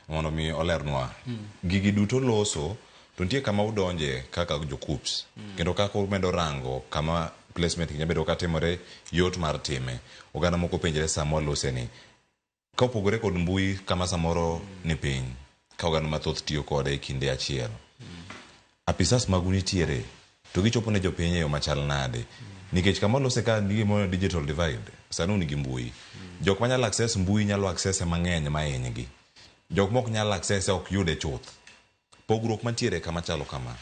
Mondo mi olernwa. Gigi duto loso to nitie kama udonje kaka jo KUPS. Kendo kaka umedo rango kama placement gi nyabedo ka timore yot mar time. Oganda moko penjre sama walose ni. Ka opogore kod mbui kama samoro ni piny ka oganda mathoth tiyo kode e kinde achiel. Apisas magu nitiere to gichopo ne jopiny e yo machal nade? Nikech kama olose ka ni gimoro ni digital divide, sani un gi mbui. Jok manyalo access mbui nyalo access e mang'eny ma hinygi. Jok mok nyal access e ok yude chuth. Pogruok mantiere kama chalo kama,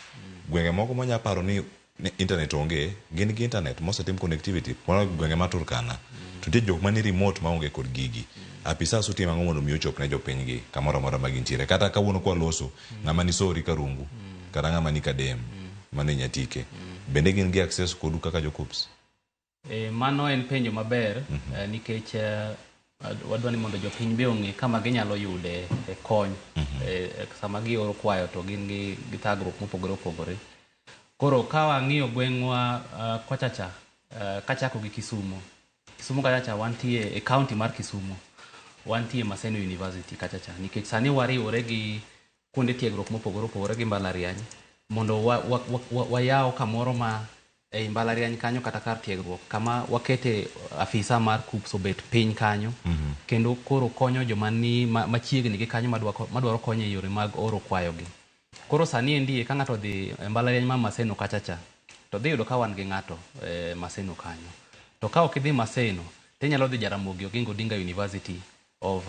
gwenge moko mwanya paro ni ni internet onge, gin gi internet mosetim connectivity mana gwenge ma Turkana. To nitie jok mani remote ma onge kod gigi. Apisas utimo ang'o mondo mi ochop ne jopinygi kamoro amora ma gintiere? Kata kawuono kwa loso, mm. ng'ama ni sori karungu mm. kata ng'ama ni kadem mm. mano inyatike mm. bende gin gi access kodu kaka jokups e, mano en penjo maber mm -hmm. eh, nikech eh, wadwa ni mondo jopiny be ong'e kama ginyalo yude e kony mm -hmm. eh, sama gioro kwayo to gin gi, gi thagruok mopogore opogore koro ka wang'iyo gweng'wa uh, kochacha uh, kachako gi kisumo Kisumu kacha cha wantie e county mar Kisumu wantie Maseno University kacha cha nikech sani wariwore gi kuonde tiegruok mopogore opogore gi mbalariany mondo wayaw wa, wa, wa, wayaw kamoro ma ei mbalariany kanyo kata kar tiegruok kama wakete afisa mar KUPS obet piny kanyo kendo koro konyo joma ni ma- machiegni gi kanyo madwa ko- madwaro konyo e yore mag oro kwayogi. Koro sani endi ka ng'ato odhi e mbalariany ma Maseno kacha cha, to dhi yudo ka wan gi ng'ato e Maseno kanyo. To ka ok idhi Maseno, to inyalo dhi Jaramogi Oginga Odinga University of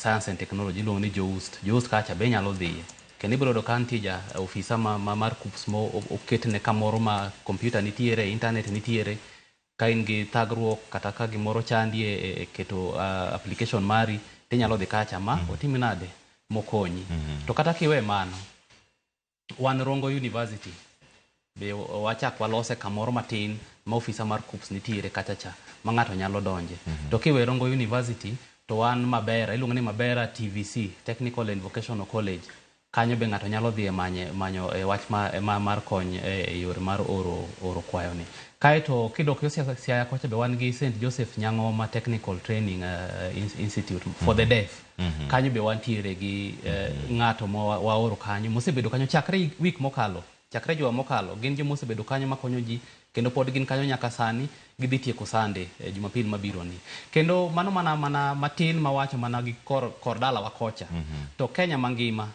Science and Technology, iluongo ni JOUST. JOUST kacha be inyalo dhiye. Kendo ibiro yudo ka nitie ja ofisa ma mar KUCCPS ma oketne kamoro ma kompyuta nitiere, intanet nitiere, Ka in gi thagruok kata ka gimoro chandi e, e, e keto uh, application mari, tinyalo dhi kacha ma otim nade mokonyi. To kata kiwe mano, wan Rongo University be o- wachak walose kamoro matin ma ofisa mar KUPS nitiere kacha cha ma ng'ato nyalo donje. To kiwe Rongo University to wan Mabera, iluongo ni Mabera TVC, Technical and Vocational College. Kanyo be ng'ato nyalo dhiye manye, manyo e wach ma, ma, mar kony e, e yore mar oro, oro kwayoni. Kae to kidok yo Siaya, Siaya kocha be wan gi Saint Joseph Nyang'oma Technical Training uh, Institute for the Deaf. Kanyo be wantiere gi uh, ng'ato ma wa, waoro kanyo mosebedo kanyo chakre week mokalo. Chakre juma mokalo, gin joma osebedo kanyo makonyo ji, kendo pod gin kanyo nyaka sani. Gidhi tieko sande e Jumapil mabironi. Kendo mano mana mana matin mawacho mana gi kor kor dalawa kocha. To Kenya mangima,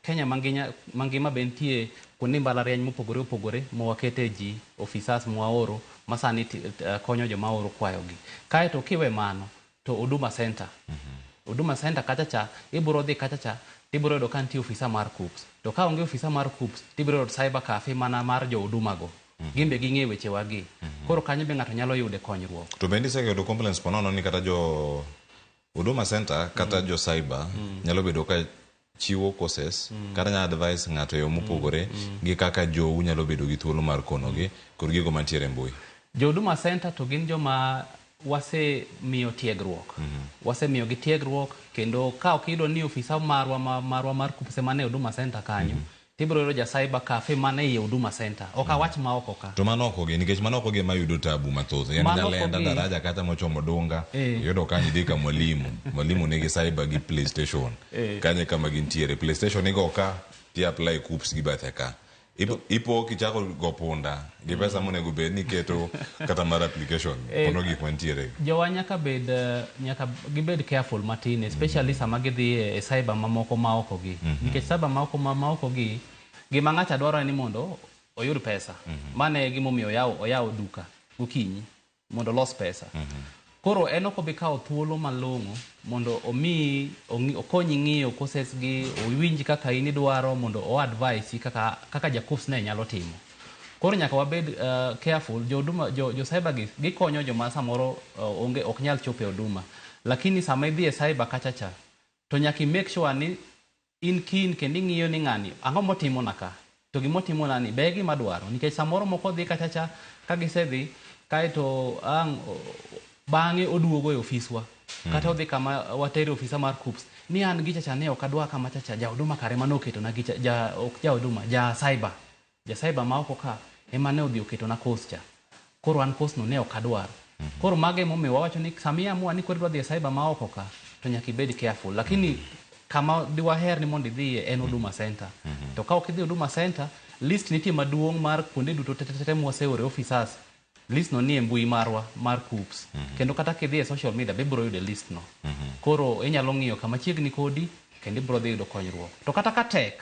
Kenya manginya mangima be nitie kuonde mbalariany mopogore opogore ma wakete ji, officers mwaoro masani konyo joma waoro kwayogi. Kaeto kiwe mano, to Huduma Centre. Huduma Centre kacha cha, ibiro dhi kacha cha, to ibiro yudo ka nitie ofisa mar KUCCPS. To ka onge ofisa mar KUCCPS, to ibiro yudo cyber cafe mana mar jo Huduma go. Gin be ging'eyo weche wa gi. Koro kanyo be ng'ato nyalo yude konyruok. To bende isega yudo complaints po nono ni kata jo Huduma Centre kata jo cyber nyalo bedo ka chiwo courses kata nyalo advise ng'ato e yo mopogore gi kaka jou nyalo bedo gi thuolo mar konogi kod gigo mantiere e mbui. Jo Huduma Centre to gin joma wasemiyo tiegruok. Wasemiyogi tiegruok kendo ka ok iyudo ni ofisa marwa ma marwa mar KUPPS ema nie Huduma Centre kanyo, Ibiro yudo ja cyber cafe mana ei Huduma Centre. Ok awach ma oko ka. To man oko gi nikech man oko gi ema yudo tabu mathoth. Yaani Man oko Nyalenda, gi. Daraja kacha mochomo Dunga, Eh. iyudo ka idhi ka Mwalimu, Mwalimu nigi cyber gi PlayStation. Eh. Kanyo e kama gintiere. PlayStation igo ka, ti apply KUPS gi bathe ka. Ipo- Ipo kichako go punda, gi pesa monego bed ni iketo kata mar application Eh, pono gik mantiere jowa nyaka bed eh, nyaka gibed careful matin especially sama gidhi e e cyber mamoko maoko gi nikech cyber maoko ma- maoko gi gima ng'acha dwaro en ni mondo oyud pesa mane gimomiyo oyawo oyawo duka gokinyi mondo olos pesa. Mm -hmm. Koro en ok obi kawo thuolo malong'o mondo omi okonyi ng'iyo courses gi owinj kaka in idwaro mondo o advise kaka kaka ja course ne nyalo timo. Koro nyaka wabed uh, careful jo huduma jo, jo cyber gi gikonyo joma samoro uh, onge ok nyal chopo e huduma. Lakini sama idhi e cyber kachacha to nyaka i make sure ni in keen kendo ing'iyo ni ng'ani ang'o motimona ka, to gima otimonani be e gima adwaro nikech samoro moko odhi kacha cha ka gisedhi kaeto ang' bang'e oduogo e ofiswa kata odhi kama watere e ofisa mar KUPPS ni an gicha cha ne ok adwa kama cha cha, ja Huduma kare emane oketona gicha, ja ok ja Huduma, ja Cyber. Nyasaye ba maoko ka ema ne odhi oketona course cha. Koro an course no ne ok adwar. Koro mago ema omiyo wawacho ni sama i amua ni koro idwa dhi e cyber ma oko ka to nyaka ibed careful. Lakini kama di waher ni mondo idhiye en Huduma Centre. To ka ok idhi Huduma Centre, list nitie maduong' mar kuonde duto te te te mwase ore offices. List no nie mbui marwa mar KUCCPS. Kendo kata kidhi e social media be ibiro yudo e list no. Koro inyalo ng'iyo kama chiegni kodi kendo ibiro dhi yudo konyruok. To kata ka tek,